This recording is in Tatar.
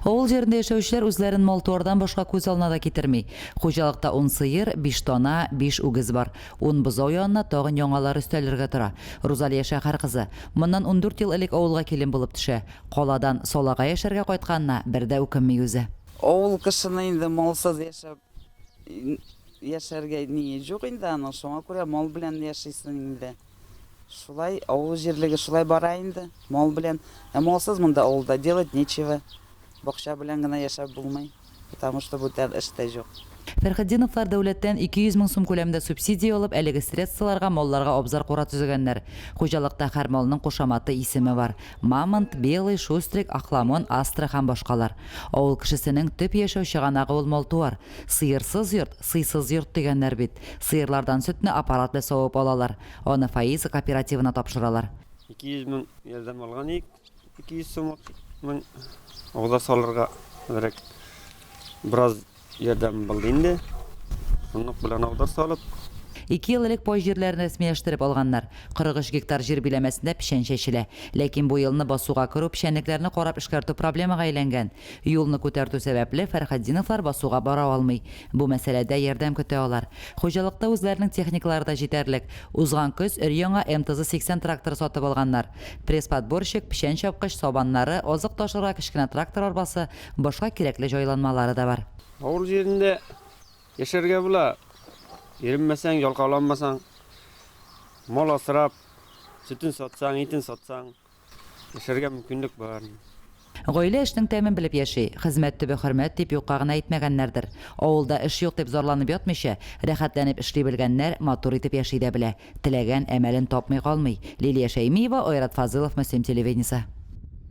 Авыл җирендә яшәүчеләр үзләрен мал-туардан башка күз алына да китерми. Хуҗалыкта ун сыер, биш дана, биш үгез бар. Ун бозау янына тагын яңалары өстәлергә тора. Рузалия шәһәр кызы. Моннан ундүрт ел элек авылга килен булып төшә. Каладан Салага яшәргә кайтканына бер дә үкенми үзе. Авыл кешене инде малсыз яшәп яшәргә ние җук инде аның, шуңа күрә мал белән яшисең инде. Шулай, авыл җирлеге шулай бара инде, мал белән. Ә малсыз монда авылда делать нечего. Бакча белән генә яшәп булмый, потому что бүтән эш тә җук. Фәрхетдиновлар дәүләттән 200 мең сум күләмендә субсидия алып, әлеге средстволарга малларга абзар-кура төзегәннәр. Хуҗалыкта һәр малның кушаматы, исеме бар. Мамонт, Белый, Шустрик, Ахламон, Астра һәм башкалар. Авыл кешесенең төп яшәү чыганагы ул мал-туар. Сыерсыз йорт. Сыйсыз йорт дигәннәр бит. Сыерлардан сөтне аппарат белә савып алалар. Аны Фаиза кооперативына тапшыралар. Ике йөз мең ярдәм алган идек. Ике йөз сумлык мең угда салырга берәк бераз ярдәм булды инде. Шунлык белән угда салып. Ике ел элек пай җирләрен рәсмиләштереп алганнар. 43 гектар җир биләмәсендә печән чәчелә. Ләкин бу елны басуга керү, печәнлекләрне карап эшкәртү проблемага әйләнгән. Юлны күтәртү сәбәпле, Фәрхатдиновлар басуга бара алмый. Бу мәсьәләдә ярдәм көтә алар. Хуҗалыкта үзләренең техникалары да җитәрлек. Узган көз өр-яңа МТЗ-80 тракторы сатып алганнар. Пресс-подборщик, печән чапкыч, сабаннары, азык ташырга кечкенә трактор арбасы, башка кирәкле җайланмалары да бар. Авыл җирендә яшәргә була. Иренмәсәң, ялкауланмасаң, мал асрап, сөтен сатсаң, итен сатсаң. Эшләргә мөмкинлек бар. Гаилә эшнең тәмен белеп яши. Хезмәт төбе хөрмәт, дип юкка гына әйтмәгәннәрдер. Авылда эш юк дип зарланып ятмыйча, рәхәтләнеп эшли белгәннәр, матур итеп яши дә белә. Теләгән әмәлен тапмый калмый. Лилия Шәймиева, Айрат Фазылов, Мөслим телевидениесе.